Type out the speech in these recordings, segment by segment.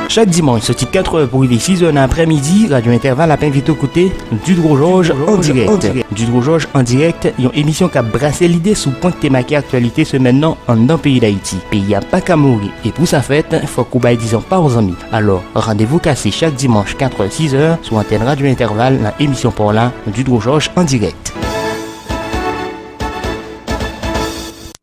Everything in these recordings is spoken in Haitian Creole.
Chak dimanch soti 4 è pou rive 6 è nan aprè midi, Radyo Entèval ap envite w koute Didrojòj an dirèk. Didrojòj an dirèk, yon emisyon k ap brase lide sou pwen k te make aktyalite semèn nan anndan peyi Dayiti. Peyi a pa ka mouri e pou sa fèt, fòk ou bay dizon pa w zanmi. Alò, randevou kase chak dimanch 4 è, 6 è sou antèn Radyo Entèval nan emisyon pa w la, Didrojòj an dirèk.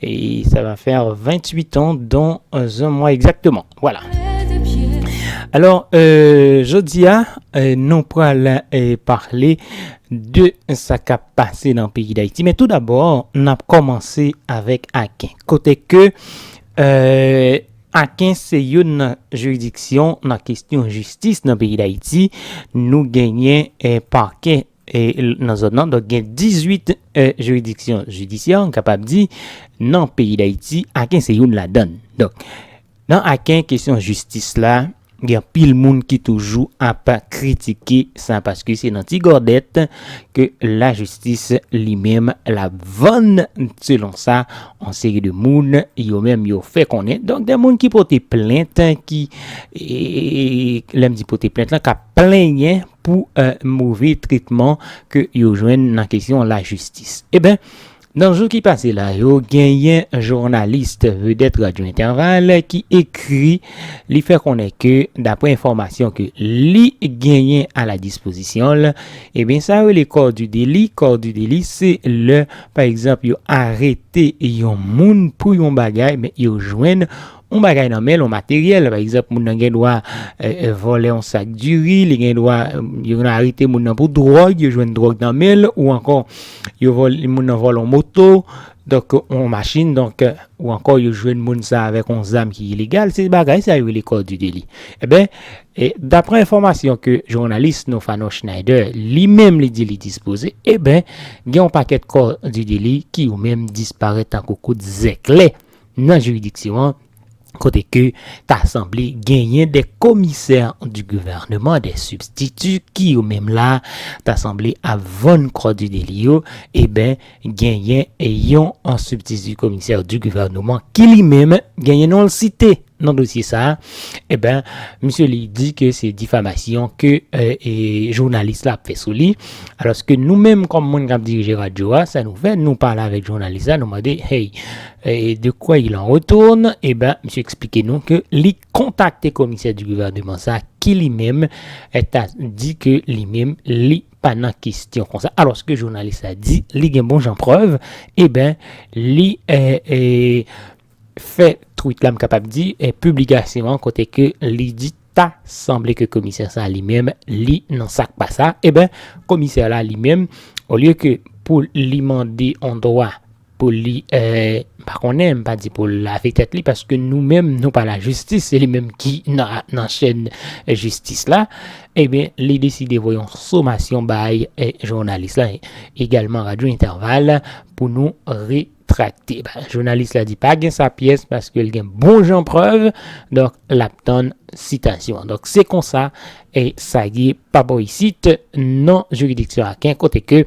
Et ça va faire 28 ans dans un mois exactement. Voilà. Alors, euh, jeudi, hein, euh, nous prenons euh, parler de sa k ap pase nan peyi Dayiti. Men tou dabò, n ap kòmanse avèk Aken. Kote ke euh, Aken se youn nan jiridiksyon nan kestyon jistis nan peyi Dayiti. Nou genyen eh, parquet e nan zòn nan donk gen 18 jiridiksyon jidisyè m kapab di nan peyi dayiti aken se youn ladann donk nan aken kesyon jistis la gen anpil moun ki toujou ap kritike sa paske se nan ti gòdèt ke lajistis li menm l ap vann selon sa yon seri de moun yo menm yo fè konnen donk gen moun ki pote plent ki lè m di pote plent lan k ap plenyen. pou move tretman ke yo jwenn nan kesyon lajistis. Eben, nan jou ki pase la yo, genyen journalist vedèt Radio Interval ki ekri, li fè konnen ke dapre enfòmasyon ke li genyen a la dispozisyon l, eben sa yo rele corps du délit, corps du délit se lè pa egzanp yo arete yon moun pou yon bagay men yo jwenn yon bagay nan men l, yon materyèl, pa egzanp moun nan gen dwa vòlè yon sak diri, li gen dwa, yo gen dwa arete moun nan pou dwòg, yo jwenn dwòg nan men l, ou ankò yo vòlè, moun nan vòlè yon moto, donk yon machin, donk ou ankò yo jwenn moun sa avèk yon zam ki ilegal, se bagay sa yo rele kò di deli. Enben, daprè enfòmasyon ke jounalis nou Fanon Schneider li menm li di li dispoze, enben gen yon pakèt kò di deli ki yo menm disparèt tankou kout zèklè. nan jiridiksyon an, kote ke ta sanble genyen de komisè di gouvèneman, de sibstiti ki yo menm la ta sanble ap vann kò di deli yo, eben genyen yon sibstiti komisè di gouvèneman ki li menm genyen non l site. Nan dosye sa, eben, misye li di ke se difamasyon ke jounalis la ap fè sou li. Alòske nou menm kòm moun kap dirije radyo a, sa nou fè, nou pale avèk jounalis la, nou mande, hey, de quoi il en retourne? Eben, misye eksplike nou ke li kontakte komisè di gouvèneman sa ki li menm ta di ke li menm li pa nan kestyon konsa. Alòske jounalis la di li gen bon jan prèv, eben, li fè tweet la m kapab di piblikasyon an kote ke li di ta sanble ke komisè sa li menm li nan sak pa sa eben komisè la li menm olye ke pou li mande on dwa pou li m pa konnen m pa di pou l lave tèt li paske nou menm nou pa lajistis se li menm ki nan chèn jistis la eben li deside voye yon somasyon bay jounalis la egalman radyo entèval pou nou re. trakte. Jounalis la di pa gen sa pyès paske l gen bon jan prèv, donk l ap tann sitasyon an. Donk se konsa e sa ye pa bò isit nan jiridiksyon Aken kote ke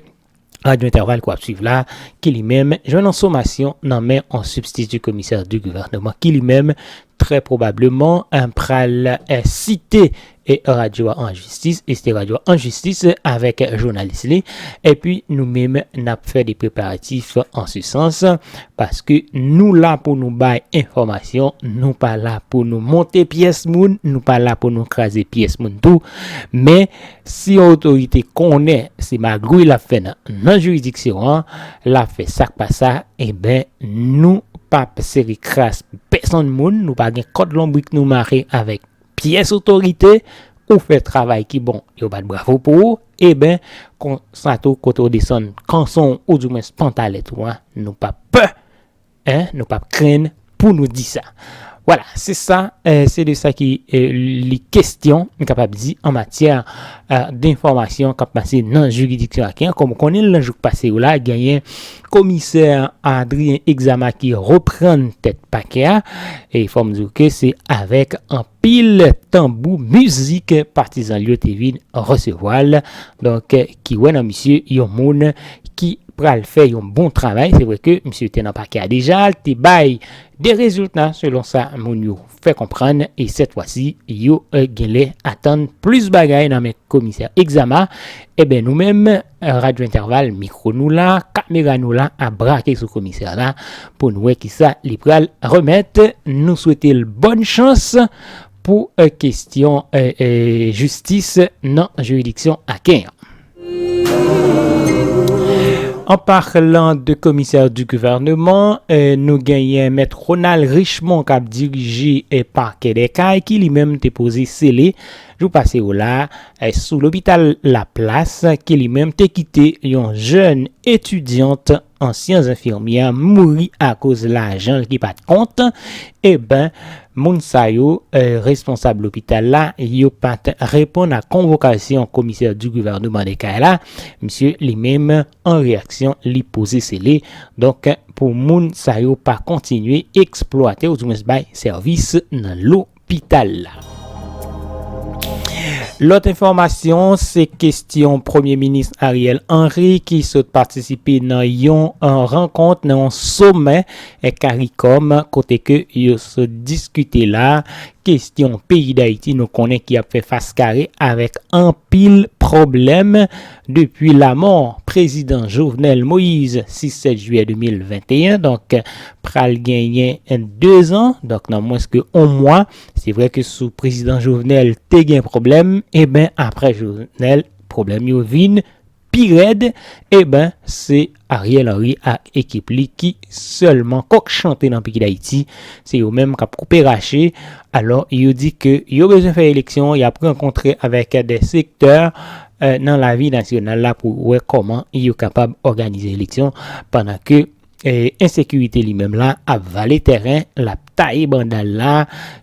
Radyo Entèval ke w ap swiv la ki li menm jwenn an somasyon nan men an sibstiti komisè di gouvèneman ki li menm Trè pwobableman, m pral site radyo a an jistis, e site radyo a an jistis avèk jounalis li, epi nou menm n ap fè de preparatif an se sans, paske nou la pou nou bay enfòmasyon, nou pa la pou nou monte pyès moun, nou pa la pou nou kraze pyès moun tou, men Si yon otorite konnen se magouy lap fè nan nan jiridiksyon an lap fè sak pa sa eben nou pap sere kras pou pèsonn moun nou pa gen kòd lonbrik nou mare avèk pyès otorite ou fè travay ki bon yo bat bravo pou ou eben konsa tou kote ou desann kanson ou di mwens pantalèt ou an nou pap pè Hein nou pap krenn pou nou di sa. Voilà, se sa, se de sa ki li kestyon, m kapab di, an matyè denfòmasyon k ap pase nan jiridiksyon Aken an. Kòm ou konnen l nan jou k pase yo la, genyen komisè Adrien Exama ki reprann tèt pakè a e fò m di w ke se avèk anpil. pil tanbou mizik patizan l yo te vin resevwa l donk ki wè nan misye yon moun ki pral fè yon bon travay se vre ke misye te nan pake a deja l te bay de rezilta selon sa moun yo fè konprann e sèt fwa si yo genlè atann plis bagay nan men komisè Exama Eben nou menm Radyo Entèval mikro nou la, kamera nou la ap brake sou komisè la pou n wè kisa li pral remèt. Nou swete l bòn chans pou kesyon jistis nan jiridiksyon Aken an. An parlan de komisè di gouvèneman, nou genyen mèt Ronald Richemond k ap dirije pakè Dèkay ki li menm te poze sele. Jou pase yo la, sou lopital Laplas ke li menm te kite yon jèn etidyant an syans enfimyè mouri akoz lajan l ki pat kont, eben moun sa yo, responsab lopital la, yo pat reponn a konvokasyon komisè di gouvèneman de Kay la, misye li menm an reyaksyon li poze sele, donk pou moun sa yo pa kontinye eksplwate ou di mwens bay sèvis nan lo. lopital la. Lòt enfòmasyon se kestyon Premye Minis Ariel Henry ki sot patisipe nan yon rankont nan yon somè caricom kote ke yo sot diskite la kestyon peyi Dayiti nou konnen ki ap fè fas kare avèk anpil pwoblèm Depi lamò prezidan Jovenel Moise 6 7 jiyè 2021 donk pral genyen 2 zan donk nan mwens ke 1 mwa se vre ke sou prezidan Jovenel te gen pwoblèm eben aprè Jovenel pwoblèm yo vin pi rèd eben se Ariel Henry ak ekip li ki sèlman kòk chante nan peyi Dayiti, se yo menm kap koupe rache, alò yo di ke yo bezwen fè eleksyon, yap rankontre avèk de sektè nan lavi nasyonal la pou wè kòman yo kapab òganize eleksyon pandan ke ensekirite li menm la ap vale tèren, lap taye banda l la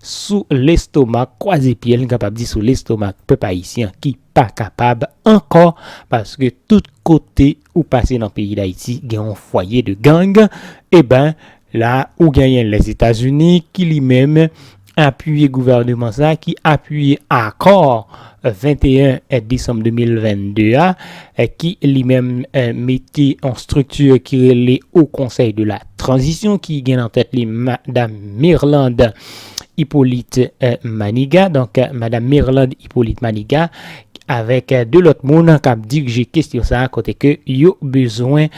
sou lestomak, kwaze pye l n kapab di sou lestomak pèp ayisyen ki pa kapab ankò paske tout kote. Ou pase nan peyi dayiti gen yon fwaye de gang eben la ou genyen lèzetazini ki li menm apiye gouvèneman sa ki apiye akò 21 desanm 2022 a ki li menm mete yon strikti ki rele Haut Conseil de la Transition ki gen nan tèt li madam Mirlande Hyppolite Manigat donk madam Mirlande Hyppolite Manigat avèk 2 lòt moun k ap dirije kestyon sa kote ke yo bezwen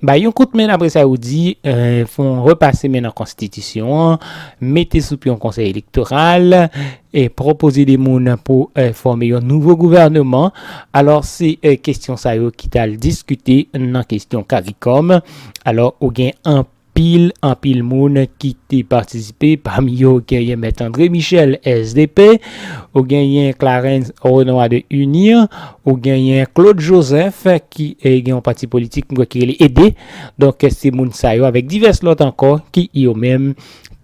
bay yon kout men dapre sa yo di fon repase men nan konstitisyon an, mete sou pye yon konsèy elektoral, pwopoze 2 moun pou fòme yon nouvo gouvèneman. Alò se kestyon sa yo ki t al diskite nan kestyon caricom. Alò ou gen anpil. Pil anpil moun ki te patisipe, pami yo genyen Mèt André Michel, sdp, ou genyen Clarens Renois de UNIR, ou genyen Claude Joseph ki gen yon pati politik m kwè ki rele ede. Donk se moun sa yo avèk divès lòt ankò ki yo menm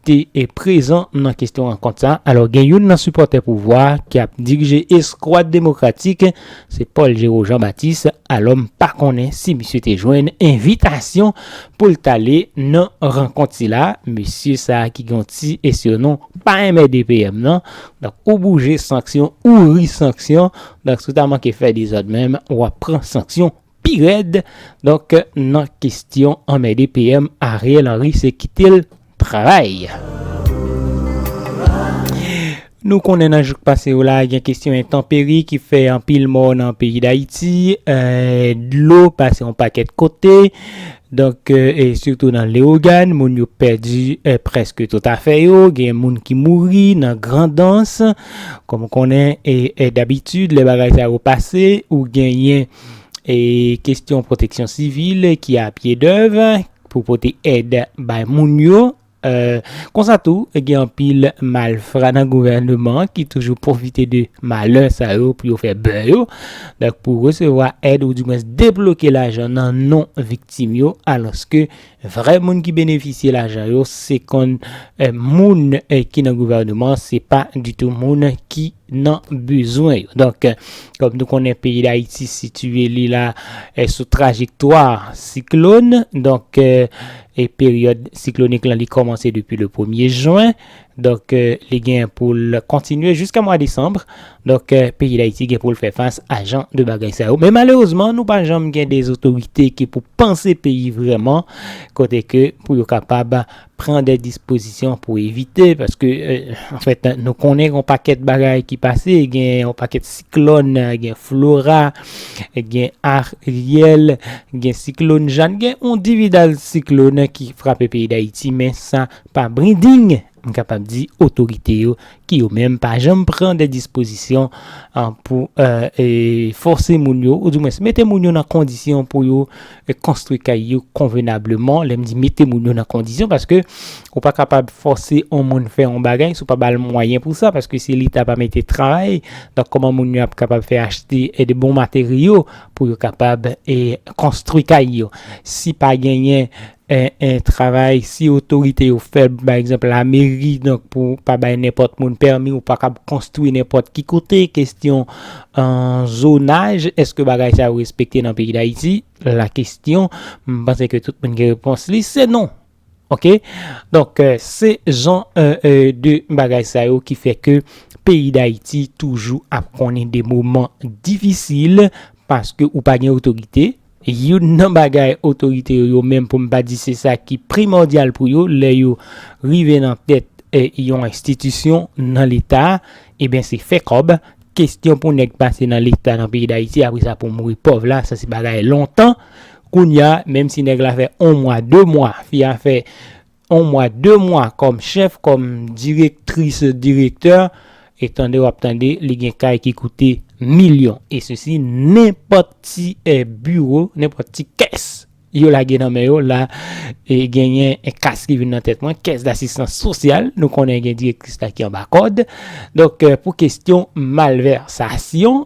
te prezan nan kesyon rankont sa. Alò gen youn nan sipòtè pouvwa ki ap dirije eskwad demokratik. se Paul Géraud Jean Baptiste, alò m pa konnen si misye te jwenn envitasyon pou l t ale nan rankont sila, mesye sa ki gen yon ti esyonon pa enmède PM nan, donk ou bouje sanksyon ou ri sanksyon, donk si w ta manke fè dezòd menm w ap pran sanksyon pi rèd donk nan kestyon anmède PM Ariel Henry se kitel travay. Nou konnen nan jou k pase yo la gen kestyon entanperi ki fè anpil mò nan peyi Dayiti, dlo pase yon pakèt kote donk e sitou nan Lewogàn moun yo pèdi prèske tout afè yo gen moun ki mouri nan Grandans kòm konnen e dabitid lè bagay sa yo pase ou genyen e kestyon pwoteksyon sivil ki a pye dèv pou pote èd bay moun yo. Konsa tou, gen anpil malfra nan gouvèneman an ki toujou pwofite de malè sa yo pou yo fè bè yo. Donk pou resevwa èd oudimwens debloke lajan nan non viktim yo alòske Vrè moun ki benefisye lajan yo se konn moun ki nan gouvèneman se pa ditou moun ki nan bezwen yo. Donk kòm nou konnen peyi Dayiti sitiye li la sou trajektwa siklòn donk peryòd siklonik lan li kòmanse depi le premye jwen Donk li gen pou l kontinye jiska mwa desanm. Donk peyi Dayiti gen pou l fè fas a jan de bagay sa yo. Men malerezman nou pa janm gen de zotorite ki pou panse peyi vreman kote ke pou yo kapab pran de dispozisyon pou evite paske anfèt nou konnen gen yon pakèt bagay ki pase gen yon pakèt siklòn gen flora gen aryèl gen siklòn jan gen yon dividal siklòn ki frape peyi Dayiti men sa Pa brinding, m kapab di otorite yo ki yo menm pa janm pran de dispozisyon pou fòse moun yo ou di mwens mete moun yo nan kondisyon pou yo konstwi kay yo konvenableman. Lè m di mete moun yo nan kondisyon paske ou pa kapab fòse yon moun fè yon bagay si w pa ba l mwayen pou sa paske si leta pa mete travay donk kòman moun yo ap kapab fè achte de bon materyo pou yo kapab konstwi kay yo. Si pa genyen 1 travay si otorite yo fèb, pa egzanp lameri, donk pou pa bay nenpòt moun pèmi, ou pa kab konstwi nenpòt ki kote, kestyon zonaj, eske bagay sa yo respekte nan peyi dayiti, la kestyon, m panse ke tout moun gen repons li, se non, ok, donk se jan de bagay sa yo ki fè ke peyi dayiti toujou ap konnen de moman difisil, paske ou pa gen otorite, Youn nan bagay otorite yo yo menm pou m pa di se sa ki primòdyal pou yo lè yo rive nan tèt yon enstitisyon nan leta eben se fè kòb, kestyon pou nèg pase nan leta nan peyi dayiti apre sa pou mouri pòv la sa se bagay lontan, kounya menm si nèg la fè on mwa de mwa fi a fè 1 mwa 2 mwa kòm chèf kòm direktris direktè e tande wap tande li gen kay ki koute milyon e sesi nenpòt ti biwo nenpòt ti kès yo lage nan men yo la e genyen kas ki vin nan tèt mwen kès dasistans sosyal nou konnen gen direktris la ki anba kòd donk pou kestyon malvèsasyon.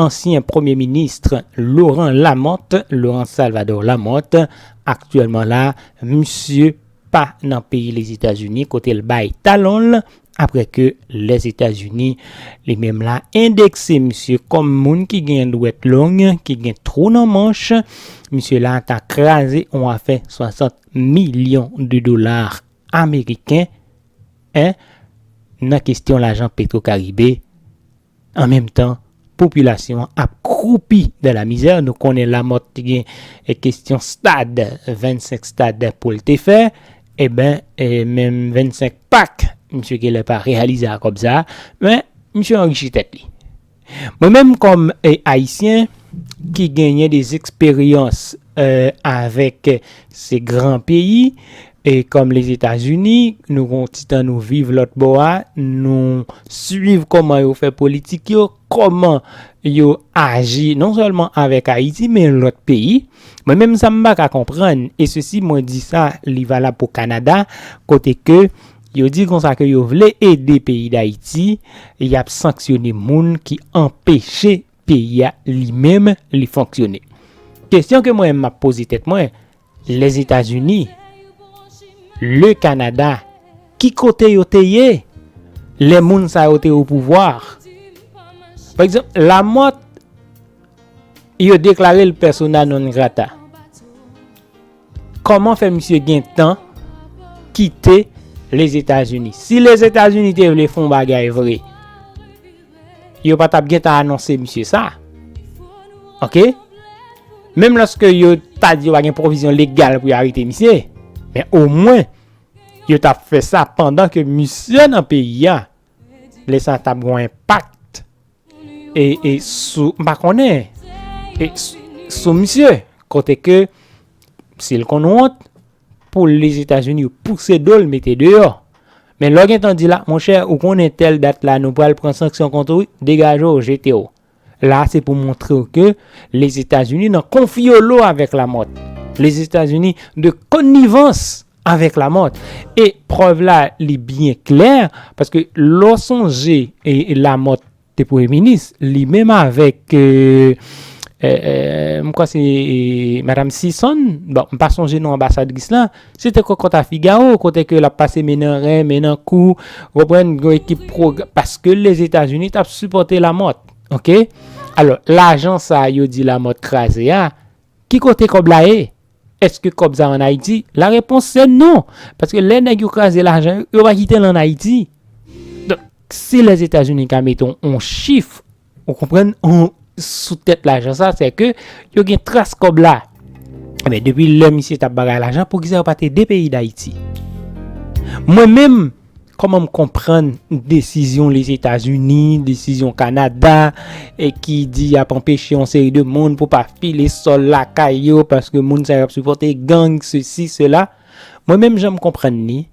Ansyen premye ministre Laurent Lamothe, Laurent Salvador Lamothe, aktyèlman la, misye pa nan peyi Lezetazini kote l bay talon l aprè ke Lèzetazini li menm la endekse misye kòm moun ki gen dwèt long, ki gen twou nan manch. Misye la ta kraze on afè 60 milyon de dola ameriken, 1 nan kestyon lajan Petro Caribe, An menm tan, popilasyon an ap kwoupi dan lamizè. Nou konnen Lamòt te gen kestyon stad, 25 stad pou l te fè. Eben, menm 25 pak, misye genlè pa reyalize a kòb sa a. Men, misye anrichi tèt li. Mwen menm kòm Ayisyen ki genyen dezesperyans avèk se gran peyi, E kòm Lezetazini, nou gon ti tan nou viv lòt bò a, nou swiv kòman yo fè politik yo, kòman yo aji non sèlman avèk Ayiti men lòt peyi. Mwen menm sa m pa ka konprann, e sesi mwen di sa li valab pou Kanada, kote ke yo di konsa ke yo vle ede peyi Dayiti, y ap sanksyone moun ki anpeche peyi a li menm li fonksyone. Kesyon ke mwen m ap poze tèt mwen, Lèzetazini, Le Kanada, ki kote yo te ye lè moun sa yo te opouvwa? Pa egzanp, Lamòt, yo deklare l persona non grata. Kòman fè misye gen tan kite Lèzetazini? Si Lèzetazini te vle fon bagay vre, yo pa tap gentan anonse misye sa. Ok? Menm lòske yo ta di yo pa gen pwovizyon legal pou yo arete misye, men o mwen yo tap fè sa pandan ke misye nan peyi a, lè sa tap gon enpak e, e sou, m pa konnen, e sou misye, kote ke, si l konn wont, Pou les etats unis yo pouse do l mete deyò. Men lè w gentan di la, monchè ou konnen tèl dat la nou pral pran sanksyon kont ou wi, degaje w jete w. La se pou montre w ke les etats unis nan konfyolo avèk Lamòt. Les etats unis de konnivans avèk Lamòt. E prèv la li byen klè paske lè w sonje Lamòt te premye minis li menm avèk m kwè se madam Sison bon m pa sonje non anbasadris lan se te kòkòt a figawo kote ke lap pase men nan ren men nan kou ou konprann gen yon ekip pro paske Lèzetazini tap sipòte Lamòt ok alò lajan sa yo di Lamòt kraze a Ki kote kòb la ye? Eske kòb sa an Ayiti? La repons se non! Paske lè nèg yo kraze lajan yo, yo pa kite l an Ayiti. Donk, si Lèzetazini ka mete yon chif, ou konprann, sou tèt lajan sa, se ke yo gen tras kòb la. Enben, depi lè misye t ap bagay lajan, poukisa yo pa te de peyi Dayiti? Mwen menm, Kòman m konprann desizyon Lezetazini, desizyon Kanada ki di y ap anpeche yon seri de moun pou pa file sòl lakay yo paske moun sa yo ap sipòte gang, sesi, sela. Mwen menm jan m konprann ni,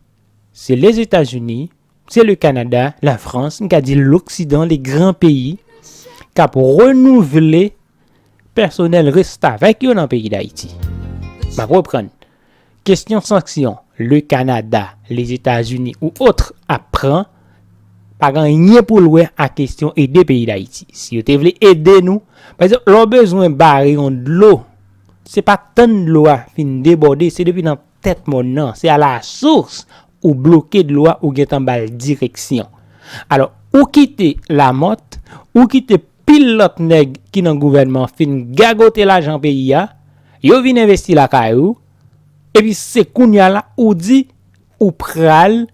se Lezetazini, se le Kanada, la Frans, m ka di loksidan, le gran peyi k ap renouvle pèsonèl restavèk yo nan peyi Dayiti. M ap reprann. Kestyon sanksyon le Kanada, Lezetazini ou otr ap pran pa gen anyen pou l wè ak kestyon ede peyi Dayiti. Si yo te vle ede nou, pa egzanp lè w bezwen bare yon dlo, se pa tann dlo a fin debòde, se depi nan tèt mòn nan, se a la sours ou bloke dlo a ou gentan ba l direksyon. Alò, ou kite Lamòt, ou kite Pil lòt nèg ki nan gouvènman fin gagote lajan peyi a, yo vin envesti lakay ou, epi se kounya la ou di ou pral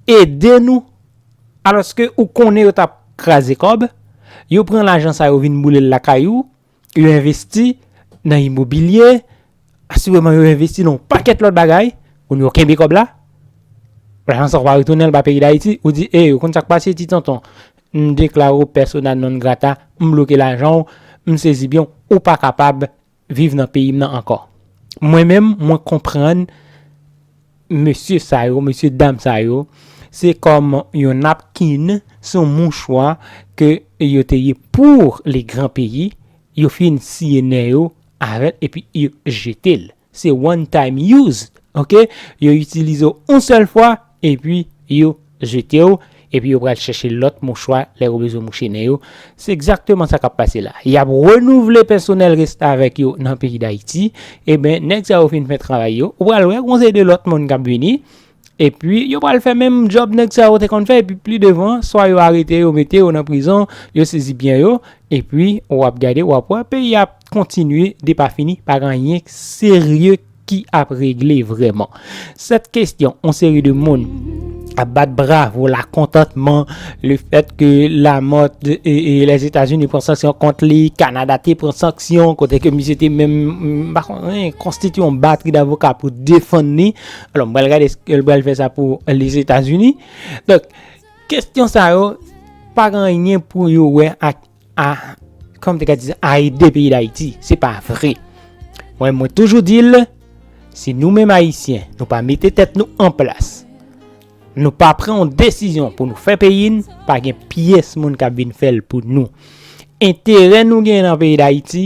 ede nou alòske ou konnen yo t ap kraze kòb, yo pran lajan sa yo vin boule l lakay ou, yo envesti nan imobilye, asireman yo envesti nan yon pakèt lòt bagay, kounye yo kenbe kòb la, lajan sa yo pa retounen l ba peyi Dayiti, ou di e, ou konn sa k pase ti tonton, M deklare w persona non grata, m bloke lajan w, m sezi byen w, ou pa kapab viv nan peyi m nan ankò. Mwen menm, mwen konprann mesye sa yo, mesye dam sa yo, se kòm yon napkin, se yon mouchwa ke yo te ye pour le grand pays, yo fin siye nè yo avè l epi yo jete l. Se one time use ok yo itilize w yon sèl fwa epi yo jete w epi yo pral chèche lòt mouchwa lè yo bezwen mouche nen yo se egzakteman sa kap pase la yap renouvle pèsonèl restavèk yo nan peyi dayiti eben nèg sa yo fin fè travay yo ou pral wè gon seri de lòt moun kap vini Epi yo pral fè menm djòb nèg sa yo te konn fè epi pli devan swa yo arete yo mete yo nan prizon yo sezi byen yo epi wap gade wap wè peyi ap kontinye depafini pa gen anyen serye ki ap regle vrèman sèt kestyon yon seri de moun ap bat bravo la kontantman le fèt ke Lamòt e Lèzetazini pran sanksyon kont li Kanada te pran sanksyon kote ke misye te menm konstitye yon batri davoka pou defann li. Alò, m pral gade eske l pral fè sa pou Lèzetazini. Donk, kestyon sa yo pa gen anyen pou yo wè ak a, kòman m te ka di sa, a ede peyi Dayiti. Se pa vre. Mwen, mwen toujou di l, si nou menm Ayisyen, nou pa mete tèt nou an plas, nou pa pran yon desizyon pou nou fè peyi n, pa gen pyès moun k ap vin fè l pou nou. Enterè nou gen nan peyi Dayiti,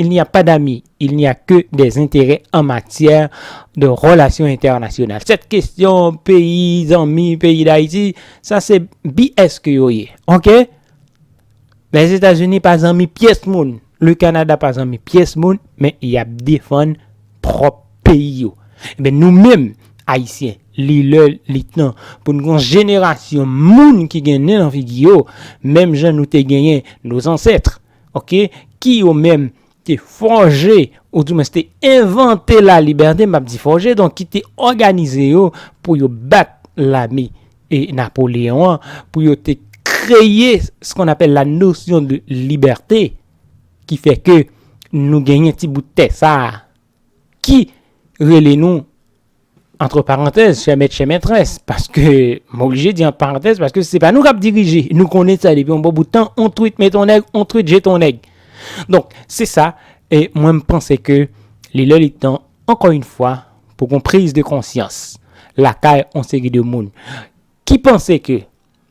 Il n'y a pas d'amis, il n'y a que des intérêts en matière de relations internationales. Cette question peyi zanmi, peyi d'Haïti, sa se BS ke yo ye. Ok? Les Etats-Unis pa zanmi pyès moun, le Canada pa zanmi pyès moun, men y ap defann pwòp peyi yo. Enben nou menm Ayisyen, li lè, li tan pou nou gon jenerasyon moun ki gen nen nan figi yo, menm jan nou te genyen nos ancêtres, ok, ki yo menm te fòje ou di mwens te envante la libète, m pa di fòje, donk ki te òganize yo pou yo bat lame e Napoléon an, pou yo te kreye s kon apèl la nosyon de libète, ki fè ke nou genyen ti bout tè sa a, ki rele nou. Antre parantèz, chè mèt chè mètrès, paske, m oblije di ant parantèz, paske se pa nou k ap dirije, nou konnen sa depi yon bon bout tan, on twit met on nèg, on twit jet on nèg. Donk, se sa, e mwen m panse ke li lè li tan, ankò yon fwa, pou gon priz de konsyans lakay on seri de moun ki panse ke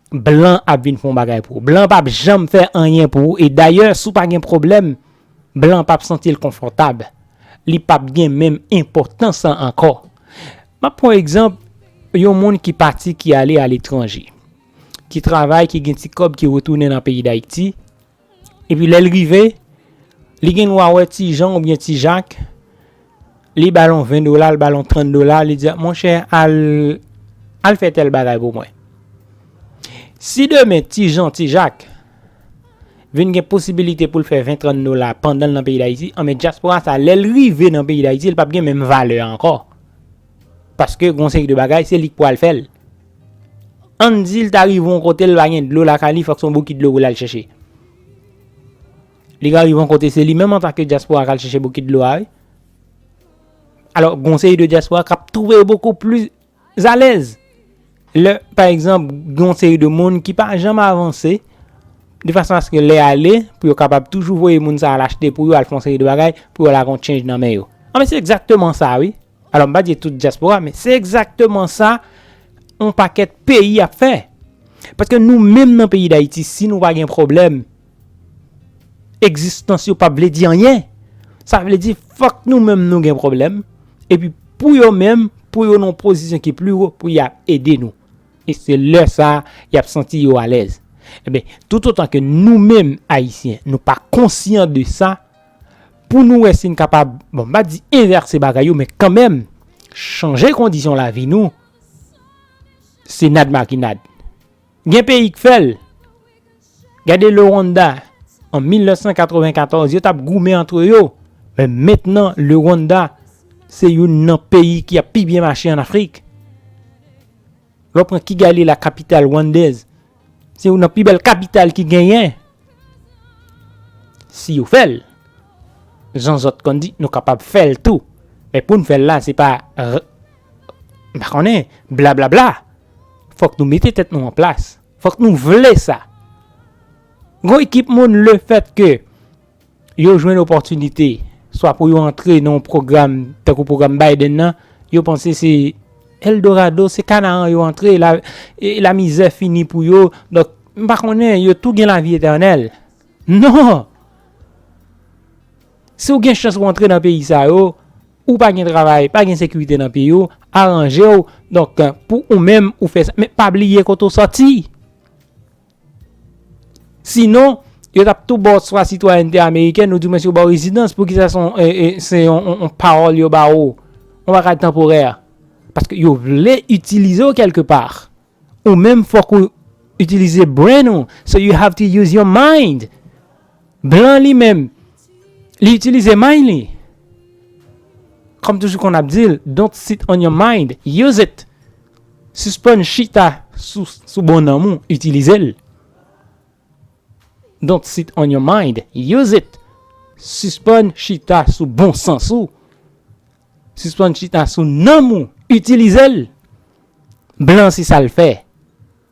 Blan ap vin fon bagay pou ou. Blan pap janm fè anyen pou ou e dayè si w pa gen pwoblèm, blan pap santi l konfòtab. Li pap gen menm enpòtans lan ankò. M ap pran egzanp yon moun ki pati ki ale aletranje, ki travay, ki gen ti kòb ki retounen nan peyi Dayiti. Epi lè l rive, li gen dwa wè ti Jan oubyen ti Jak, li ba l yon 20 dola, li ba l yon 30 dola, li di, monchè al, al fè tèl bagay pou mwen. Si demen ti Jan, ti Jak vin gen posibilite pou l fè 20, 30 dola pandan l nan peyi Dayiti, anben dyaspora sa lè l rive nan peyi Dayiti, li p ap gen menm valè a ankò. Paske gon seri de bagay se li k pou al fè l. Ann di l ta rive yon kote l pa gen dlo lakay li fòk se yon bokit dlo pou l al chèche. Li ka rive yon kote se li menm antanke dyaspora k al chèche bokit dlo a wi. Alò gon seri de dyaspora k ap twouve yo bokou pli zalèz. Lè pa egzanp gon seri de moun ki pa janm avanse de fason aske lè ale pou yo kapab toujou voye moun sa al achte pou yo al fè yon seri de bagay pou yo al ak yon tchenj nan men yo. Anben se egzakteman sa wi. Alò m pa di tout dyaspora men se egzakteman sa yon pakèt peyi ap fè. Paske nou menm nan peyi Dayiti si nou pa gen pwoblèm egzistans yo pap vle di anyen. Sa vle di fòk nou menm nou gen pwoblèm epi pou yo menm pou yo nan yon pozisyon ki pli wo pou y ap ede nou. E se lè sa y ap santi yo alèz. Enben, toutotan ke nou menm Ayisyen nou pa konsyan de sa pou nou wè si n kapab, bon m pa di envèse bagay yo men kanmenm chanje kondisyon lavi nou, se nad makinad. Gen peyi k fè l, gade Le Rwanda an 1994 yo t ap goumen antre yo, men mentnan Le Rwanda se youn nan peyi ki ap pi byen mache an Afrik. Lè w pran Kigali la kapital Rwandèz, se youn nan pi bèl kapital ki genyen. Si yo fè l, jan zòt konn di, nou kapab fè l tou. Men pou n fè l la, se pa m pa konnen, blablabla. Fòk nou mete tèt nou an plas. Fòk nou vle sa. Gon ekip moun le fèt ke yo jwenn opòtinite swa pou yo antre nan yon pwogram tankou pwogram Biden nan, yo panse se Eldorado, se Kanaran yo antre, lamizè fini pou yo, donk m pa konnen yo tou gen lavi etènèl. Non! Si w gen chans pou w antre nan peyi sa yo, ou pa gen travay, pa gen sekirite nan peyi w, aranje w, donk pou ou menm ou fè sa, men pa bliye kote w sòti! Sinon, yo tap tou baw swa sitwayènte amerikèn ou di mwen si yo baw rezidans poukisa se yon paròl yo ba ou, yon bagay tanporè. Paske yo vle itilize ou kèlke pa. Ou menm fòk ou itilize brain ou, so you have to use your mind. Blan li menm, li itilize mind li. Kòm toujou kon ap di l, don't sit on your mind, use it. Suspann chita sou bon nanm ou utilizel. Don't sit on your mind, use it. Suspann chita sou bon sans ou. Suspann chita sou nanm ou utilizel. Blan se sal fè.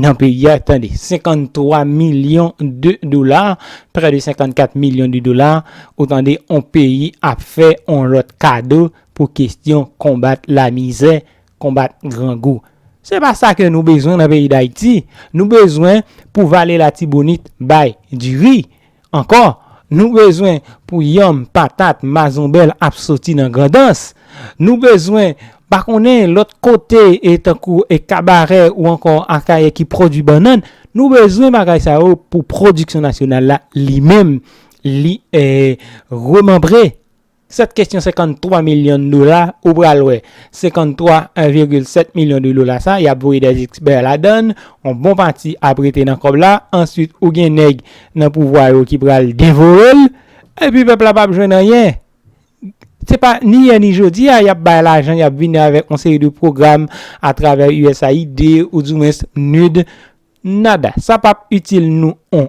nan peyi a tande 53 milyon de dola prè de 54 milyon de dola ou tande on peyi ap fè on lòt kado pou kestyon konbat lamizè konbat grangou se pa sa ke nou bezwen nan peyi dayiti nou bezwen pou vale latibonit bay diri Ankò, nou bezwen pou yanm, patat, mazonbèl ap soti nan Grandans. Nou bezwen, pa konnen lòt kote tankou Kabarè ou ankò Akayè ki pwodui bannann, nou bezwen bagay sa yo pou pwodiksyon nasyonal la li menm li remanbre. Sèt kesyon 53 milyon dola ou pral wè 53 1 virgil 7 milyon de dola sa yap voye dè expè ladann on bon pati ap rete nan kòb la answit ou gen nèg nan pouvwa yo ki pral devorel epi pèp la pap jwenn anyen se pa ni yè ni jodi a yap bay lajan yap vini avèk on seri de pwogram a travè usaid ou du mwens nud nada sa pap itil nou on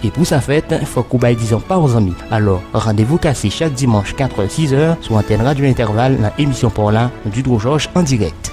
E pou sa fèt, fòk ou bay dizon pa w zanmi. Alò, randevou kase chak dimanch 4 è, 6 è, sou antèn Radyo Entèval nan emisyon pa w la, Dutro Georges en direct.